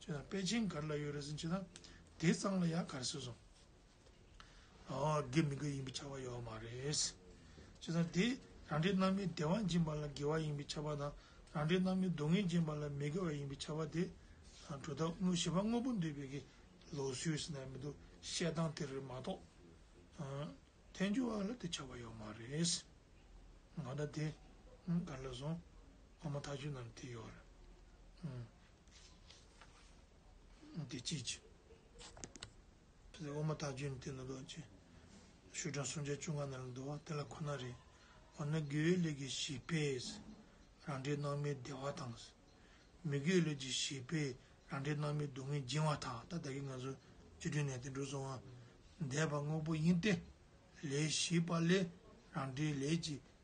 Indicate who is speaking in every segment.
Speaker 1: ཅེས་དང་པེ་ཅིང་གར་ལ་ཡོད་རེད་ཟིན་ཅེས་དང་དེའི་གཙང་ལ་ཡང་གར་ཟེར་སོང། ཨོ་དགེ་མི་དགེ་ཡིན་པའི་ཆ་བ་ཡོད་མ་རེད། ཅེས་དང་དེས་རང་འདྲའི་རྣམ་སྨིན་བདེ་བ་འབྱིན་པ་ལ་དགེ་བ་ཡིན་པའི་ཆ་བ་དང་རང་འདྲའི་རྣམ་སྨིན་སྡུག་བསྔལ་འབྱིན་པ་ལ་མི་དགེ་བ་ཡིན་པའི་ཆ་བ་དེ། དྲུག་དང་བཞི་པ་དངོས་པོ་འདུས་པའི་གི་ལོག་སུས་ཟིན་ན་མི་འདུག་བཤད་སྟངས་དེ་རེད་མ་གཏོགས། ཨ། ཐལ་འགྱུར་བ་ལ་དེ་ཆ་བ་ཡོད་མ་རེད། ང་དང་དེ། གར་ལ་སོང། ཨོ་མ་ཐག་ཆོད་ནམ་དེ་ཡོད་རེད། འདི་ཅིའི་ཕྱིར། ཕྱི་ཟླ་འོག་མ་དག་བརྒྱུད་ནས་དེ་ལ་རྡོ་རྗེ། ཤུ་དྲང་སུམ་བརྒྱ་བཅུ་ལྔ་ན་ལ་འདུ་བ་དེ་ལ་ཁོ་ན་རེ། འོ་ན་སྒྱུའི་ལུས་ཀྱི་བྱིས་པས། རང་འདྲའི་སྣང་མེད་བདེ་བ་དང། མི་སྒྱུའི་ལུས་ཀྱི་བྱིས་པས་རང་འདྲའི་སྣང་མེད་སྡུག་བསྔལ་སྦྱིན་བ་དག་ད་ལྟ་གི་ང་ཚོ་སྤྱི་དོན་ནས་དེ་འགྲོ་སོང་ཨ། འདས་པ་དངོས་པོ་ཡིན་ཏེ། ལས་བྱིས་པ་ལས་རང་འདྲའི་ལས་ཀྱི་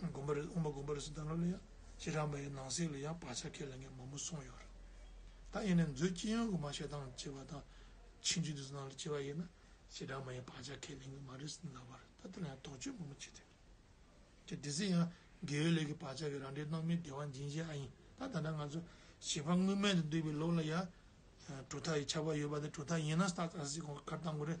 Speaker 1: དགོན་པ་རེ་དབུ་མ་དགོན་པ་རེ་སུ་དང་ལ་ལ་ཡང་ཕྱི་དྲང་པ་ཡི་ནང་གསེས་ལ་ཡང་བག་ཆགས་ཁས་ལེན་མཁན་མང་པོ་སོང་ཡོད་རེད་ད་ཡིན་ནའི་མཛོད་སྤྱི་ཡོངས་ཀྱི་མ་ཤེས་སྟངས་སྐྱེ་བ་དང་ཕྱི་འཇུ་དུས་སུ་ནང་ལ་སྐྱེ་བ་ཡིན་ན་ཕྱི་དྲང་པ་ཡི་བག་ཆགས་ཁས་ལེན་གི་མ་རེད་སུ་ལབ་པ་རེད་ད་དེ་ལ་ཡང་དོགས་གཅོད་མང་པོ་བྱེད་ཐུབ་རེད་དེ་སྲིད་ཡང་དགེ་བའི་ལས་ཀྱི་བག་ཆགས་ཀྱི་རང་འདྲའི་སྣང་མེད་བདེ་བ་འབྱིན་བྱེད་ཨ་ཡིན་ད་ད་ལྟ་ང་ཚོ་བྱིས་པ་སྔོན་མེད་དུ་འདུག་པའི་ལོགས་ལ་ཡང་གྲུ་ཐག་ཡི་ཆར་པ་ཡོད་པ་དེ་གྲུ་ཐག་ཡིན་ན་སྟག་ལྟར་སྲིད་གོང་གི་ཁར་བཏང་དགོས་རེད་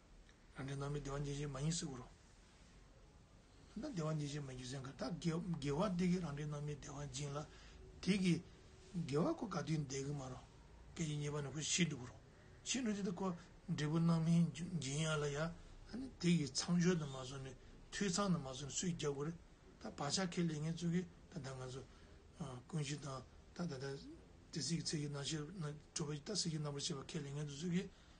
Speaker 1: རང་འདྲའི་ནང་མི་བདེ་བ་འབྱེད་བྱེད་མ་ཡིན་སྲིད་དགོས་རོ། ད་བདེ་བ་འབྱེད་བྱེད་མ་རྒྱུ་མཚན་ག་ད་དགེ་བ་དེ་གིས་རང་འདྲའི་ནང་མི་བདེ་བ་འབྱིན་ལ། དེ་གིས་དགེ་བ་ཁོ་ག་དུས་འདས་གི་མ་རོ། སྐད་ཅིག་ཉེས་པ་ནི་ཁོ་ཤི་འགྲོ་གི་རོ། ཤི་འགྲོ་དེ་ལྟ་ཁོ་འབྲས་བུ་སྣང་མིན་འབྱིན་ཡ་ལ་ཡ། དེ་གིས་ཚངས་སྦྱོར་དུ་མ་བཟུང་ནས་འཐུས་ཚང་དུ་མ་བཟུང་ནས་སུས་རྒྱག་དགོས་རེད། ད་བག་ཆགས་ཁས་ལེན་ངེད་ཚོ་གིས་ད་ད་ང་ཚོ་ཀུན་གཞི་དང་ད་ད་ད་དེ་སྲིད་ཀྱི་ཚེ་གཞི་སྣང་ཤེར་སྤྲོས་པ་ད་སྲིད་ཀྱི་རྣམ་པར་ཤེས་པ་ཁས་ལེན་ངེད་ཚོ་ཚོས་གིས་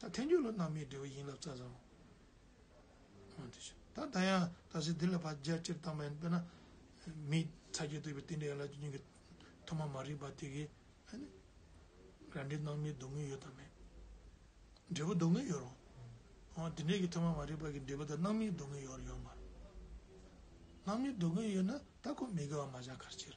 Speaker 1: ད་ཐེངས་ཀྱི་ལོ་ནང་མིའི་འབྲས་བུ་ཡིན་ལབ་ཙ་ཙམ་མང་དུ་བྱུང། ད་ད་ཡང་ད་ཟེར་འདི་ལ་བར་རྒྱ་ཆེར་བཏང་པ་ཡིན་དཔེར་ན། མིའི་ཚ་རྒྱས་བཏུས་པའི་རྟེན་འབྲེལ་ཡན་ལག་བཅུ་གཉིས་ཀྱི་ཐོག་མ་མ་རིག་པ་དེ་གས་རང་འབྲས་སྣང་མེད་སྡུག་བསྔལ་ཡོད་དམ་མེད། འབྲས་བུ་སྡུག་བསྔལ་ཡོད་རུང། འོ་དེ་འདྲས་ཀྱི་ཐོག་མ་མ་རིག་པ་གི་འབྲས་བུ་དང་སྣང་མེད་སྡུག་བསྔལ་ཡོད་རུང་ཡོད་མ་རུང། སྣང་མེད་སྡུག་བསྔལ་ཡོད་ན་ད་ཁོ་མི་དགེ་བ་མ་བྱ་གར་ཕྱིར།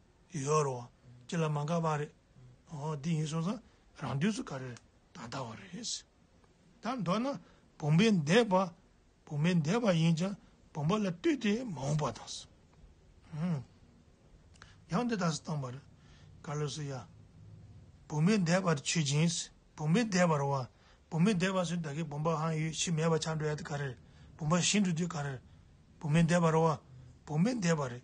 Speaker 1: ཡོད་རོ། ཅི་ལ་མ་འགགས་པ་རེད། འོ་འདི་ཡིན་སོང་ཙང་རང་དུས་སུ་ག་རེ་ད་ལྟ་བ་རེད། ད་མདོར་ན་བུམ་པའི་འདས་པ་བུམ་པའི་འདས་པ་ཡིན་ཅང་བུམ་པ་ལ་ལྟོས་ཏེ་མ་འོངས་པ་དང། ཡང་འདི་དག་སུ་བཏང་བར། ཀ་ལོ་སི་ཡ། བུམ་པའི་འདས་པར་ཆོས་ཅན། བུམ་པའི་འདས་པར་བ། བུམ་པའི་འདས་པ་སུ་ད་གའི་བུམ་པ་ཧང་ཡོད་ཕྱིས་མེད་པ་ཆགས་འགྲོ་ཡ་དེ་ག་རེ་རེད། བུམ་པ་ཞི་འགྲོ་དུས་ག་རེ་རེད། བུམ་པའི་འདས་པར་བ། བུམ་པའི་འདས་པ་རེད།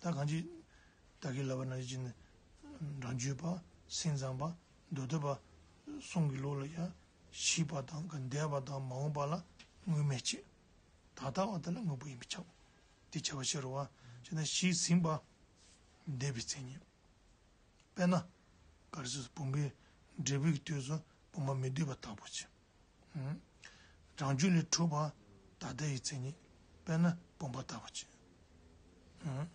Speaker 1: ད་གང་ཅི། བདག་གིས་ལབ་པ་ན་ཅི། འབྲང་རྒྱུད་པ། སེམས་ཙམ་པ། མདོ་སྟོད་པ། གསུང་གི་ལུགས་ལ་ཡང། བྱིས་པ་དང་འདས་པ་དང་མ་འོངས་པ་ལ་སྔོན་མེད་ཅེས། ད་ལྟ་བ་དེ་ལ་དངོས་པོ་ཡིན་པས་ཁྱབ། འདི་བྱ་བ་ཕྱི་རུ་བ། ཅེ་ན་བྱིས་ཟིན་པ། འདས་པའི་མཚན་ཉིད། དཔེར་ན། གར་སོས་སུ་བུམ་པའི། འབྲས་བུའི་སྟོད་སུ་བུམ་པ་མི་སྡུད་པ་དག་པོ་བྱེད། རང་རྒྱུད་ལས་གྲུབ་པ་ད་ལྟ་ཡི་མཚན་ཉིད་དཔེར་ན་བུམ་པ་དག་པ་ཅན།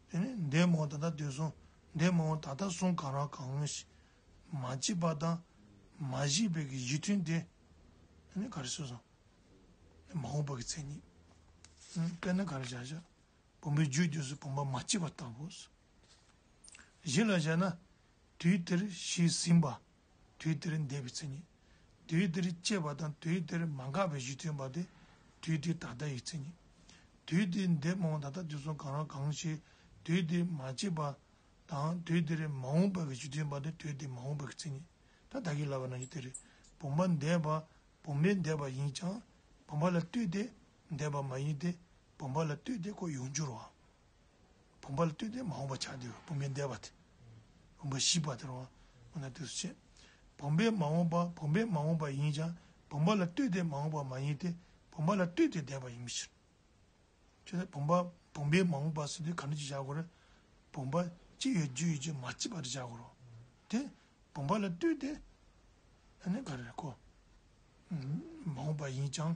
Speaker 1: དེ་ནས་འདས་མ་འོངས་ད་ལྟ་དེ་གསུང། འདས་མ་འོངས་ད་ལྟ་གསུང་གང་རང་གང་ངོ་ཞེས། མ་སྐྱེས་པ་དང་མ་སྐྱེས་པའི་གཞི་མཐུན་ཏེ། ག་རེ་སོ། མ་འོངས་པའི་མཚན་ཉིད་དཔེར་ན་ག་རེ་བྱ་བྱ། བུམ་པའི་རྒྱུད་དུས་སུ་བུམ་པ་མ་སྐྱེས་པ་ལྟ་བུ། གཞི་ལ་བྱས་ན་དུས་དེར་གཞི་ཟིན་པ། དུས་དེར་འདས་པའི་མཚན་ཉིད། དུས་དེར་སྐྱེས་པ་དང་དུས་དེར་མ་འགགས་པའི་གཞི་མཚོན་པ་སྟེ་དུས་དེ་ད་ལྟ་ཡི་མཚན་ཉིད། དུས་དེའི་འདས་མ་འོངས་ད་ལྟ་དུས་སུ་གང་རུང་གང་ཞིག་དུས་དེ་མ་སྐྱེས་པ་དང་དུས་དེར་མ་འོངས་པའི་གཞི་མཚོན་པ་སྟེ་དུས་དེ་མ་འོངས་པའི་མཚན་ཉིད། ད་ལྟ་གྱི་ལ་བ་ན་ཡི་དེ་རེད། བུམ་པ་འདས་པ་བུམ་པའི་འདས་པ་ཡིན་ཀྱང་བུམ་པ་ལ་ལྟོས་ཏེ་འདས་པ་མ་ཡིན་ཏེ་བུམ་པ་ལ་ལྟོས་ཏེ་ཁོ་ཡོང་འགྱུར་བ། བུམ་པ་ལ་ལྟོས་ཏེ་མ་འོངས་པ་ཆགས་བདེ་བའི་བུམ་པའི་འདས་པ་སྟེ། བུམ་པ་བཞི་པ་དེར་འོང་བ་ན་དེ་སུ་བྱེད། བུམ་པའི་མ་འོངས་པ་བུམ་པའི་མ་འོངས་པ་ཡིན་ཀྱང་བུམ་པ་ལ་ལྟོས་ཏེ་མ་འོངས་པ་མ་ཡིན་ཏེ་བུམ་པ་ལ་ལྟོས་ཏེ་འདས་པ་ཡིན་པའི་ཕྱིར། ཅི་སྟེ་བུམ་པ་བུམ་པའི་མ་འོངས་པ་སུ་དེ་གང་འདོད་ཀྱིས་བཞག་གོ། བུམ་པ་ཅི་ཡོད་རྒྱུ་ཡོད་ཀྱིས་མ་སྐྱེས་པར་བཞག་གོ། དེ་བུམ་པ་ལ་ལྟོས་ཏེ། ཨ་ནི་ག་རེ་གོ། མ་འོངས་པ་ཡིན་ཀྱང།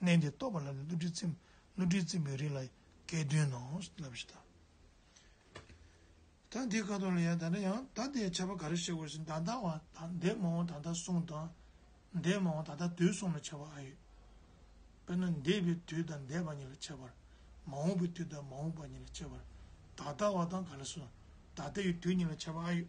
Speaker 1: གནས་འདི་རྟོགས་པ་ལ་ནི་བསླུ་བྲིད་ཚིམ། བསླུ་བྲིད་ཚིམ་པའི་རིགས་ལ་སྐལ་བདུན་ནོ། ལབ་བཞི་དང། ད་འདི་ཀ་དོག་ལ་ཡང་དག་ན་ཡང་དག་དེའི་ཆད་པ་ག་རེ་ཞེས་བགོས་ཤིང་དང་དང་བ་དང་འདས་མ་འོངས་དང་དང་གསུང་དང། འདས་མ་འོངས་དང་དང་དུས་གསུམ་ལ་ཆད་པ་ཨ་ཡོད། དཔེར་ན་འདས་པའི་དུས་དང་འདས་པ་ཉིད་ལ་ཆད་པར། མ་འོངས་པའི་དུས་དང་མ་འོངས་པ་ཉིད་ལ་ཆད་པར། ད་ལྟ་བ་དང་ག་ལ་སོ། ད་ལྟའི་དུས་ཉིད་ལ་ཆད་པ་ཨ་ཡོད།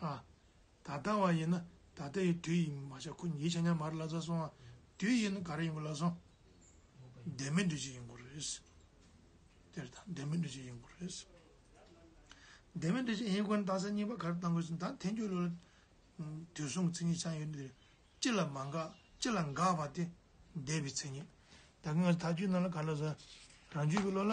Speaker 1: ཨ། ད་ལྟ་བ་ཡིན་ན་ད་ལྟ་ཡི་དུས་ཡིན་མ་བྱ་ཁུ་ཉིས་བྱ་ཉམས་མར་བླ་ཚ་སོང་ཨ། དུས་ཡིན་ག་རེ་ཡིན་གོ་ལ་སོང། ལྡན་མིན་འདུས་བྱས་ཡིན་གོ་རེད། དེར་ཐང་ལྡན་མིན་འདུས་བྱས་ཡིན་གོ་རེད། ལྡན་མིན་འདུས་བྱས་ཡིན་གོ་ན་ད་ས་གཉིས་པ་ག་རེ་བཏང་དགོས་ཟིན་ད་ཐེངས་ཁྱོད་ལོ། དུས་གསུམ་གྱི་མཚན་ཉིད་ཆ་ཡོད་འདིར་ཅི་ལ་མ་འགགས་ཅི་ལ་འགགས་པ་དེ་འདས་པའི་མཚན་ཉིད། ད་གིན་ང་ད་རྒྱུད་རྣམས་ལ་ག་ལ་ཟེར། རང་རྒྱུད་ཀྱི་བློ་ལ།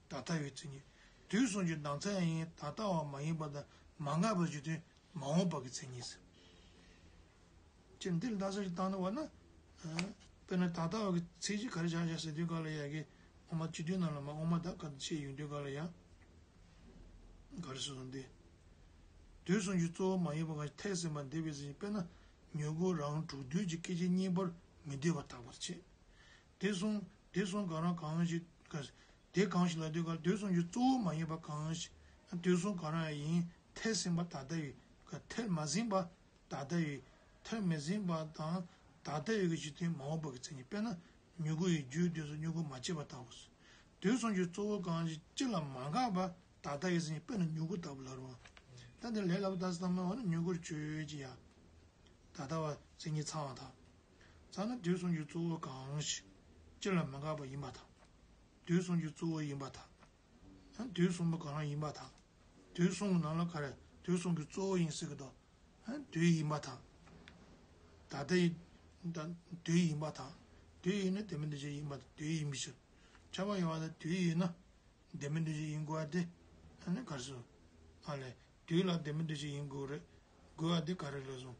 Speaker 1: ད་ལྟ་བའི་ཚིག་ཉིད་དུས་གསུམ་གྱི་ལྡང་ཚད་ཡིན་ད་ལྟ་བ་མ་ཡིན་པ་དང་མ་འགགས་པའི་རྒྱུ་དོན་མ་འོངས་པ་གི་ཚིག་ཉིད་ཟེར། སྤྱིར་འདིར་ལྡང་ཚད་ཀྱི་སྟངས་ནི་བ་ན། དཔེར་ན་ད་ལྟ་བ་གི་ཚིག་གཅིག་ག་རེ་བྱ་བྱ་ཟེར་དུས་ག་ལ་ཡ་གི་འོ་མ་སྤྱི་དོན་རྣམས་ལ་མ་འོངས་མ་ད་ག་དུ་ཆེས་ཡུན་དུས་ག་ལ་ཡ། ག་རེ་སོ་སོ་འདི། དུས་གསུམ་གྱི་གཙོ་བོ་མ་ཡིན་པ་གང་ཞིག་ཐེག་ཟིན་པ་འདི་བས་ཟིན་ཅིང་དཔེར་ན་མྱུ་གུ་རང་དྲུག་དུས་ཀྱི་སྐད་ཅིག་གཉིས་པར་མི་སྡོད་པར་དག་པར་བྱེད། དེ་སོང་དེ་སོང་གང་རང་གང་ཞིག་དགའ། དེ་གང་ཞིག་ལ་སྡོད་ག་ལ་སྡོད་སོང་རྒྱུ་གཙོ་བོ་མ་ཡིན་པ་གང་ཞིག་ན་སྡོད་སོང་གང་རང་ཡིན་ཐལ་ཟིན་པ་ད་ལྟ་ཡི་ག་ཐལ་མ་ཟིན་པ་ད་ལྟ་ཡི་ཐལ་མི་ཟིན་པ་དང་ད་ལྟ་ཡི་ག་གཞི་དེ་མ་འོངས་པ་གི་མཚན་ཉིད་དཔེར་ན་མྱུ་གུ་ཡི་རྒྱུའི་སྡོད་སོང་མྱུ་གུ་མ་སྐྱེས་པ་ལྟ་བུ། སྡོད་སོང་རྒྱུ་གཙོ་བོ་གང་ཞིག་ཅི་ལ་མ་འགགས་པ་ད་ལྟ་ཡི་མཚན་ཉིད་དཔེར་ན་མྱུ་གུ་ལྟ་བུ་ལ་རོ། ད་འདིར་ལས་སླ་པོ་ལྟ་སྟངས་སྨྲ་བ་ན་མྱུ་གུར་བརྗོད་ཀྱི་ཡ། ད་ལྟ་བ་མཚན་ཉིད་ཚང་བ་དང། རྩ་ལ་དུས་གསུམ་གྱི་གཙོ་བོ་གང་ཞིག་སྤྱི་ལ་མི་འགག་པ་ཡིན་པ་དང། དུས་གསུམ་གྱི་གཙོ་བོ་ཡིན་པ་དང། དུས་གསུམ་པོ་གང་རང་ཡིན་པ་དང། དུས་གསུམ་གྱི་ནང་ལ་ག་རེ་དུས་གསུམ་གྱི་གཙོ་བོ་ཡིན་ཟེར་གི་དོ། དུས་ཡིན་པ་དང། ད་ལྟ་ཡི་དང་དུས་ཡིན་པ་དང། དུས་ཡིན་ན་དེ་མིན་འདི་ཅིག་ཡིན་པ་དང་དུས་ཡིན་མི་ཕྱིར། ཆགས་པ་ཡོད་པ་དང་དུས་ཡིན་ན་དེ་མིན་འདི་ཅིག་ཡིན་དགོས་པ་དེ་ག་རེ་ཟེར། ཨ་ལས། དུས་ལ་དེ་མིན་འདི་ཅིག་ཡིན་དགོས་རེད་དགོས་པ་དེ་ག་རེ་ལས་བཟུང།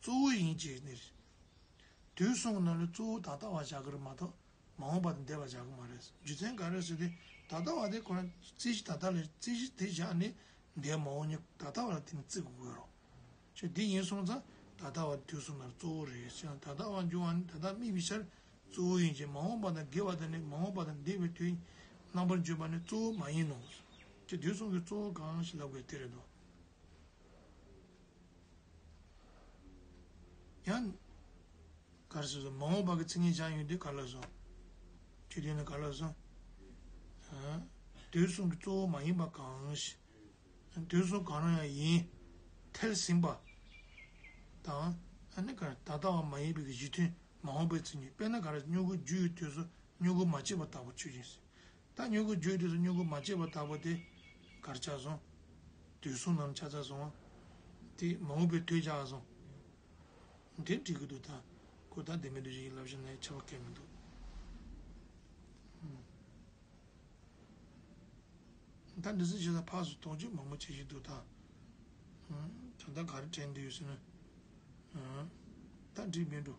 Speaker 1: གཙོ་བོ་ཡིན་ཅེས་ནི་རེད། དུས་གསུམ་གྱི་ནང་ལས་གཙོ་བོ་ད་ལྟ་བ་བྱ་དགོས་རེད་མ་གཏོགས་མ་འོངས་པ་དང་འདས་པ་བྱ་དགོས་མ་རེད། རྒྱུ་མཚན་ག་རེ་ཟེར་དུས་ད་ལྟ་བ་དེ་ཁོ་ན་རྩིས་གཞི་ད་ལྟ་ལས་རྩིས་གཞི་དེ་བཞག་ནས་འདས་མ་འོངས་གཉིས་ད་ལྟ་བ་ལ་བརྟེན་ནས་བརྩི་དགོས་དགོས་རོགས། ཁྱོད་འདི་ཡིན་གསུངས་ཙང་ད་ལྟ་བ་དུས་གསུམ་ལ་གཙོ་བོ་རེད་ཟེར་ན་ད་ལྟ་བ་འབྱུང་བ་ནི་ད་ལྟ་དམིགས་པའི་ཆར་གཙོ་བོ་ཡིན་ཅིང་མ་འོངས་པ་དང་དགེ་བ་དང་ནི་མ་འོངས་པ་དང་འདས་པའི་དུས་རྣམ་པར་འཇོག་པ་ནི་གཙོ་བོ་མ་ཡིན་ནོ། ཁྱོད་དུས་གསུམ་གྱི་གཙོ་བོ་གང་ཞིག་ལབ་དགོས་དེ་རེད་དོ། ཡང། གར་སོགས་སོ། མ་འོངས་པར་གྱི་ཚིག་ངེས་བྱང་ཡོད་དུས་གར་ལ་བཟོ། ཆོས་བསྟན་ནི་གར་ལ་བཟོ། དུས་གསུམ་གྱི་གཙོ་བོ་མ་ཡིན་པ་གང། དུས་གསུམ་གང་རུང་ཡང་ཡིན། ཐལ་ཟིན་པ། དང། ད་ལྟ་བ་མ་ཡིན་པའི་གཞི་མཐུན་མ་འོངས་པའི་ཚིག་ངེས་དཔེར་ན་གར་སྙུག་གུ་རྒྱུ་ཡོད་དུས་སོ་སྙུག་གུ་མ་བྱས་པ་དག་པོ་ཆོས་ཅན། ད་སྨྱུ་གུ་བརྒྱུད་དུས་སུ་སྨྱུ་གུ་མ་བཅད་པར་བདག་པོ་དེ་གར་ཆགས་སོང། དུས་གསུམ་ནམ་ཆ་ཚ་སོང། དེ་མ་འོངས་པའི་དུས་ཆགས་སོང། དེ་འདྲི་གི་འདུག་ད་ཁོས་ད་དེ་མི་འདུག་ཅེས་ཡིད་ལབ་བཞིན་ནས་ཆད་པ་གས་མི་འདུག། ད་འདྲི་སེ་བྱས་ད་ཕག་སུ་དོགས་གཅོད་མང་པོ་བྱེད་བཞིན་འདུག་ད། ད་ད་ག་རེ་དྲན་འདུག་ཟེར་ན། ད་འདྲི་མི་འགྲོ།